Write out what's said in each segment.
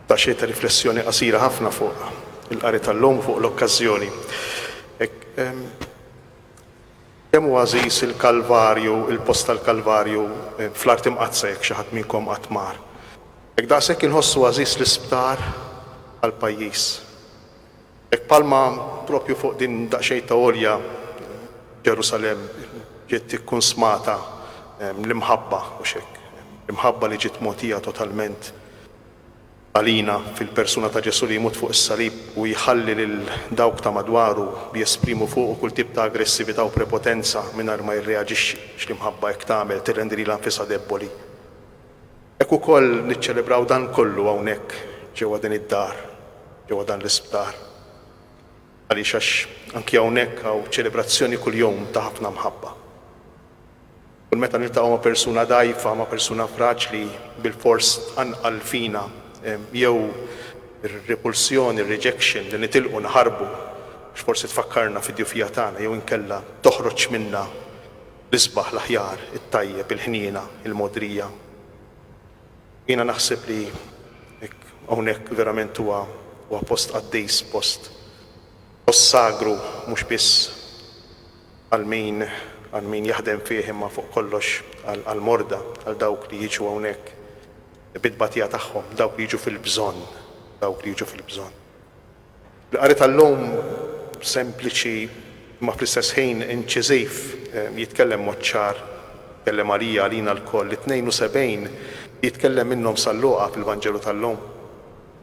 Daqsxejn ta' riflessjoni qasira ħafna fuq il-qari tal-lum u fuq l-okkażjoni. Kemm hu għażiż il-Kalvarju, il-post tal-Kalvarju fl-Art Imqaddsa jekk xi ħadd minnkom qatt mar. Jekk daqshekk inħossu għażiż l-isptar għall-pajjiż. Hekk bħalma proprju fuq din daqsxejn ta' għolja Ġerusalemm ġiet ikkunsmata l-imħabba, hux hekk? L-imħabba li ġiet mogħtija totalment għalina fil-persuna ta' Ġesù li jmut fuq is-salib u jħalli lil dawk ta' madwaru li jesprimu fuqu kull tip ta' aggressività u prepotenza mingħajr ma jirreaġixxi, x'l-imħabba hekk tagħmel, tirrendi lilha nfisha debboli. Hekk ukoll niċċelebraw dan kollu hawnhekk ġewwa din id-dar, ġewwa dan l-isptar. Għaliex għax anki hawnhekk hawn ċelebrazzjoni kuljum ta' ħafna mħabba. Kull meta niltaqgħu ma' persuna dgħajfa, ma' persuna fraġli, bilfors tqanqal fina jew ir-repulsjoni, ir-rejection li nitilqu naħarbu għax forsi tfakkarna fid-djufija tagħna jew inkella toħroġ minna L-isbaħ, l-aħjar, it-tajjeb, il-ħniena, il-mogħdrija. U jiena naħseb li hawnhekk verament huwa huwa post qaddis, post post sagru mhux biss għal min għal min jaħdem fih imma fuq kollox għal għall-morda, għal dawk li jiġu hawnhekk bit-tbatija tagħhom, dawk li jiġu fil-bżonn, dawk li jiġu fil-bżonn. Il-qari tal-lum sempliċi imma fl-istess ħin inċiżiv jitkellem mod ċar, jitkellem għalija, għalina lkoll, lit-72 li jitkellem minnhom sal-Luqa fil-Vanġelu tal-lum,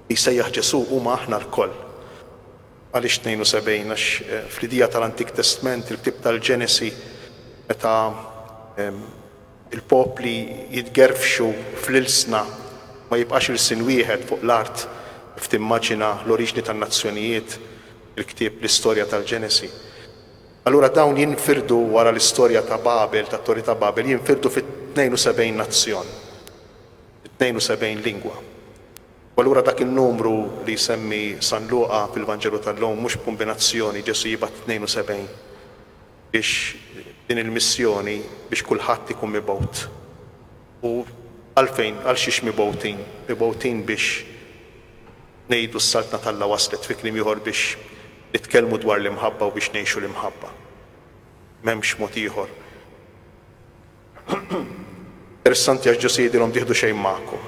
li jsejjaħ Ġesù huma aħna lkoll. Għaliex 72? Għax fl-idea tal-Antik Testment, il-ktieb tal-Ġenesi, meta Il-popli jitgerfxu fl-ilsna, ma jibqax ilsien wieħed fuq l-art kif timmaġina l-oriġni tan-nazzjonijiet fil-ktieb l-istorja tal-Ġenesi. Allura dawn jinfirdu wara l-istorja ta' Babel, tat-Torri ta' Babel, jinfirdu fi 72 nazzjon, fi 72 lingwa. U allura dak in-numru li jsemmi San Luqa fil-Vanġelu tal-lum mhux b'kumbinazzjoni, Ġesù jibgħat 72. biex din il-missjoni biex kulħadd ikun mibgħut. U għalfejn, għal xiex mibgħutin? Mibgħutin biex ngħidu s-Saltna t'Alla waslet, fi kliem ieħor biex nitkellmu dwar l-imħabba u biex ngħixu l-imħabba. M'hemmx mod ieħor. Interessanti għax Ġesù jgħidilhom tieħdu xejn magħkom,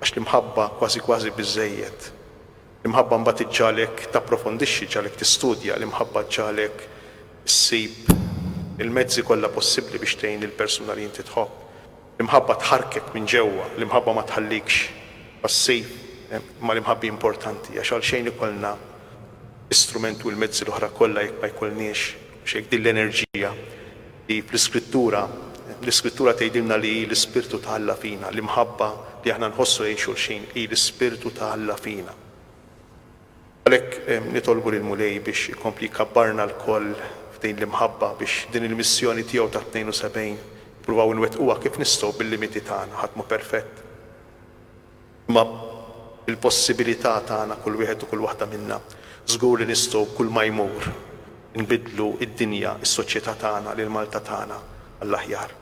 għax l-imħabba kważi kważi biżżejjed. L-imħabba mbagħad iġġagħlek tapprofondixxi, ġġagħlek tistudja, l-imħabba ġġagħlek issib il-mezzi kollha possibbli biex tgħin lill-persuna li inti tħobb. L-imħabba tħarrkek minn ġewwa, l-imħabba ma tħallikx passiv. Imma l-imħabbi importanti għax għalxejn ikollna l-istrument u l-mezzi l-oħra kollha jekk ma jkollniex, u jekk din l-enerġija, li fl-Iskrittura, l-Iskrittura tgħidilna li hi l-Ispirtu ta' Alla fina, l-imħabba li aħna nħossu lejn xulxin hi l-Ispirtu ta' Alla fina. Għalhekk nitolbu lill-Mulej biex ikompli jkabbarna lkoll f'din l-imħabba biex din il-missjoni tiegħu tat-72 nippruvaw inwettquha kif nistgħu bil-limiti tagħna, ħadd mhu perfett. Imma bil-possibilità tagħna kull wieħed u kull waħda minna, żgur li nistgħu kull ma jmur inbiddlu d-dinja, is-soċjetà tagħna, lil Malta tagħna għall-aħjar.